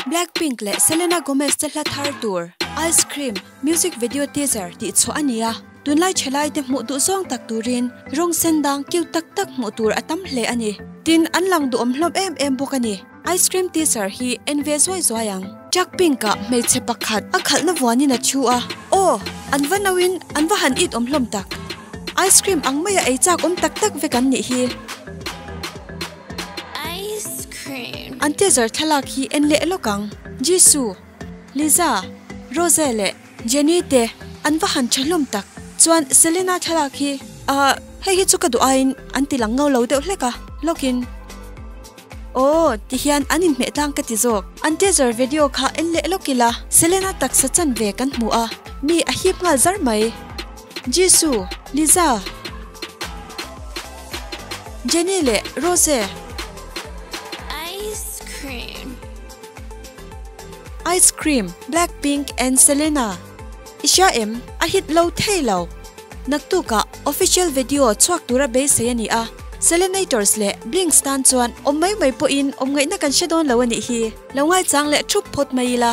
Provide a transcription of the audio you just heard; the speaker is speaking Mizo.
Blackpink leh Selena Gomez te hla thar tur Ice Cream music video teaser tih chhuah a ni a, tunlai thelai te hmuh duh zawng tak turin rawng sen dang cute tak tak hmuh tur a tam hle a ni. Tin, an lang duhawm hlawm em em bawk a ni. Ice Cream teaser hi en ve zuai zuai ang. Blackpink-a hmeichhe pakhat a khalhna vuanin a thu a, Aw! An va nauin an va han it awm hlawm tak. Ice Cream ang maia ei chak awm tak tak vek an nih hi. An tezar thlalak hi en leh lawk ang. Jisu, Liza, Rose leh Jenny te an va han tha hlawm tak. Chuan Selena thlalak hi, Aah, hei hi chu ka duh aiin an ti lang ngau lo deuh hlek a, lawk in. Aw, ti hian an inhmeh tlang ka ti zawk. An tezar video kha en leh lawk ila Selena taksa chan ve kan hmu a, mi a hip nghal zar mai. Jesu, Liza, Jenny leh Rose. Ice cream. Ice cream, Blackpink and Selena. I hria em? A hit lo thei lo. Naktukah official vedio chhuak tura beisei a ni a. Selenators leh Blinks tan chuan awm mai mai pawhin awmngaihna kan hre dawn lo a nih hi. Lo ngaichang leh thup phawt mai ila.